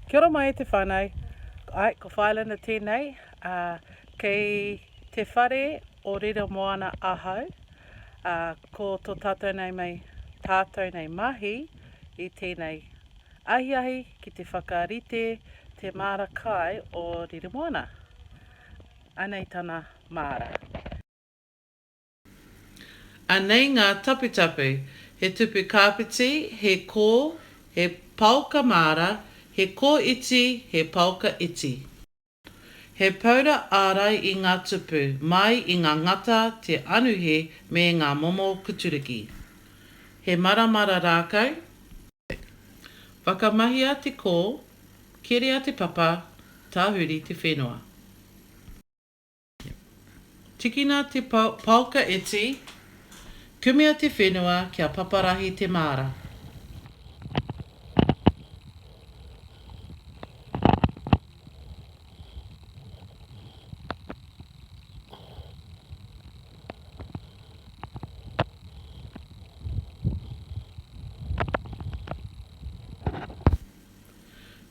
Kia ora mai e te whanau. Ai, ko Whailana tēnei, ā, kei te whare o Rira Moana ahau, ā, ko tō tātou nei mei, tātou nei mahi i tēnei ahiahi ki te whakarite te māra kai o Rira Moana. Anei tana māra. Anei ngā taputapu, he tupu kāpiti, he kō, he paoka māra, he kō iti, he paoka iti. He paura ārai i ngā tupu, mai i ngā ngata, te anuhe me ngā momo kuturiki. He maramara rākau. Whakamahia te kō, keria te papa, tahuri te whenua. Tikina te paoka iti, kumea te whenua kia paparahi te māra.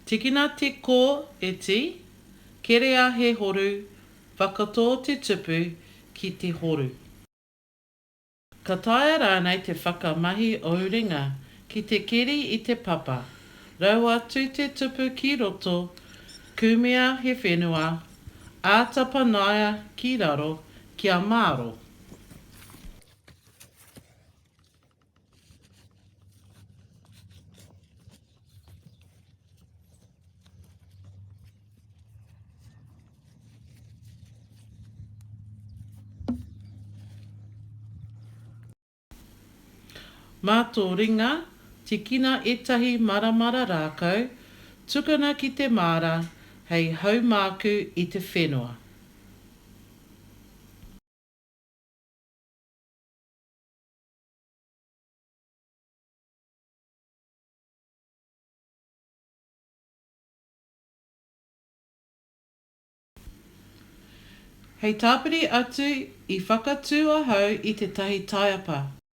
Tikina te ko e ti, kerea he horu, whakatō te tupu ki te horu. Ka taea rānei te whakamahi ou ringa ki te keri i te papa, rau atu te tupu ki roto, kumea he whenua, āta panaia ki raro kia māro. Mā tō ringa, tikina ētahi maramara rākau, tukuna ki te māra hei haumāku i te whenua. Hei tāpiri atu, i whakatū ahau i tētahi taiapa.